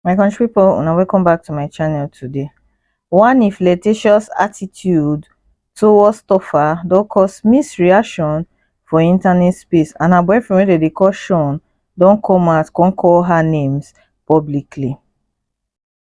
my country people now welcome back to my channel today one if flirtatious attitude towards tofa don cause mixed reaction for internet space and her boyfriend wey dem call sean don come out come call her names publicly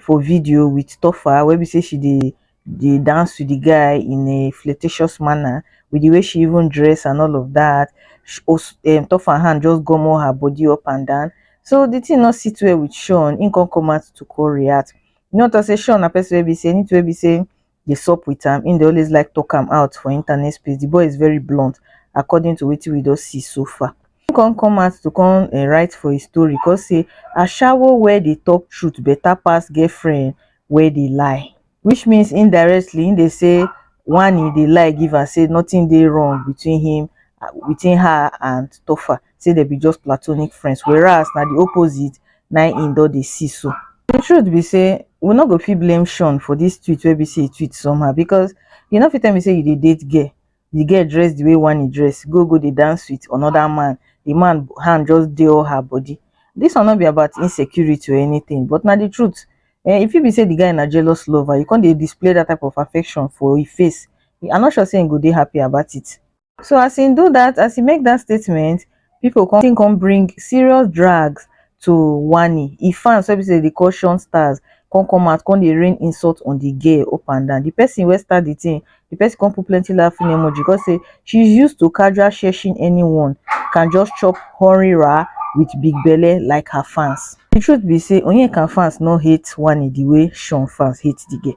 for video with Tofa where we say she dey dey dance with the guy in a flirtatious manner with the way she even dress and all of that. She, um, Tofa hand just gummo her body up and down. So the thing not sit well with Sean. He can't come out to co-react. You know what I say? Sean, a person will be say, need to be say dey sup with am, him dey always like talk am out for internet space, the boy is very blunt according to wetin we don see so far. Him come come out to come um write for his story come say ashawo wey dey talk truth better pass girlfriend wey dey lie which means indirectly him dey say one he dey lie give am say nothing dey wrong between him between her and Tofa. say dem be just platonic friends whereas na the opposite na im don dey see so. The truth be say we no go fit blame Sean for this tweet wey be say e tweet somehow because you no fit tell me say you dey date girl the girl dress the way Wanni dress go go dey dance with another man the man hand just dey all her body this one no be about insecurity or anything but na the truth eh, e fit be say the guy na jealous lover you come dey display that type of affection for e face I'm not sure say he go dey happy about it. So as he do that, as he make that statement, people come come bring serious drags to Wani. He fans so say the caution stars come come out, come the rain insult on the gay up and down. The person where start the thing, the person come put plenty laughing emoji because say she's used to casual shushing anyone can just chop horny ra with big belly like her fans. The truth be say Onyeka fans no hate Wani the way Sean fans hate the gay.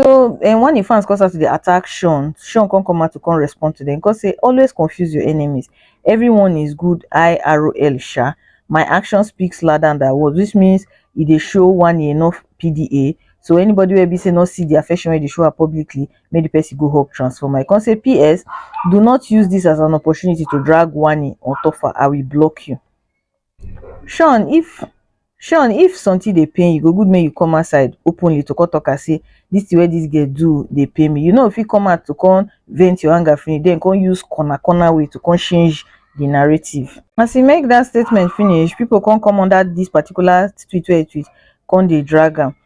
So um when the fans come start to dey attack Sean, Sean come come out to come respond to them. Come say always confuse your enemies. Everyone is good IRL sha. My action speaks louder than their words, which means e dey show one e enough PDA. So anybody wey be say no see the affection wey dey show her publicly, make the person go hub transformer. I come say PS, do not use this as an opportunity to drag Wani on top her. I will block you. Shawn if Shawn if something dey pain you, e go good make you come outside openly to come talk am say this thing wey this girl do dey pain me. You no go fit come out to come vent your anger finish then come use corner corner way to come change the narrative. As e make that statement finish, people come come under this particular tweet wey e tweet come dey drag am.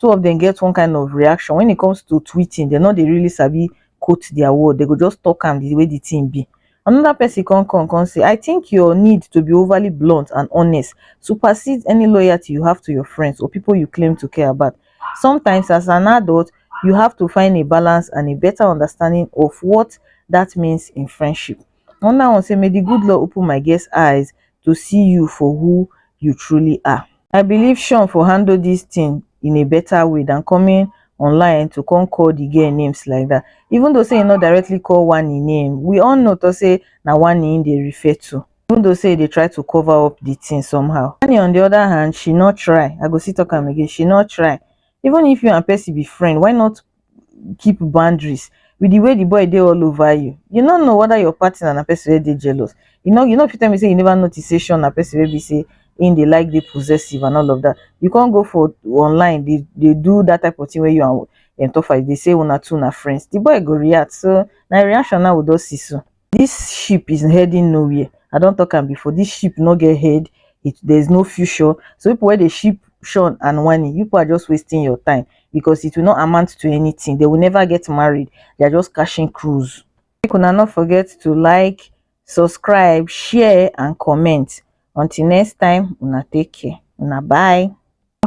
two of dem get one kind of reaction when it comes to tweeting dem no dey really sabi quote their word they go just talk am the way the thing be another person come come come say i think your need to be overly blunt and honest supersedes any loyalty you have to your friends or people you claim to care about sometimes as an adult you have to find a balance and a better understanding of what that means in friendship another one say may the good lord open my guest eyes to see you for who you truly are. I believe Sean for handle this thing in a better way than coming online to come call the girl names like that. Even though say he not directly call one in name, we all know to say na one in they refer to. Even though say they try to cover up the thing somehow. Annie on the other hand, she not try. I go see talk am again. She not try. Even if you and Percy be friend, why not keep boundaries with the way the boy dey all over you, you no know whether your partner na person wey dey jealous. You no you no fit tell me say you never notice say Sean na person wey be say him dey like dey possessive and all of that. You come go for online dey dey do that type of thing wey you and um Tofa dey say una two na friends. The boy go react so na him reaction now we don see so. this ship is heading nowhere i don talk am before this ship no get head it there is no future so people where they ship sean and wani you people are just wasting your time because it will not amount to anything they will never get married they are just cashing cruise make una not forget to like subscribe share and comment until next time una take care una bye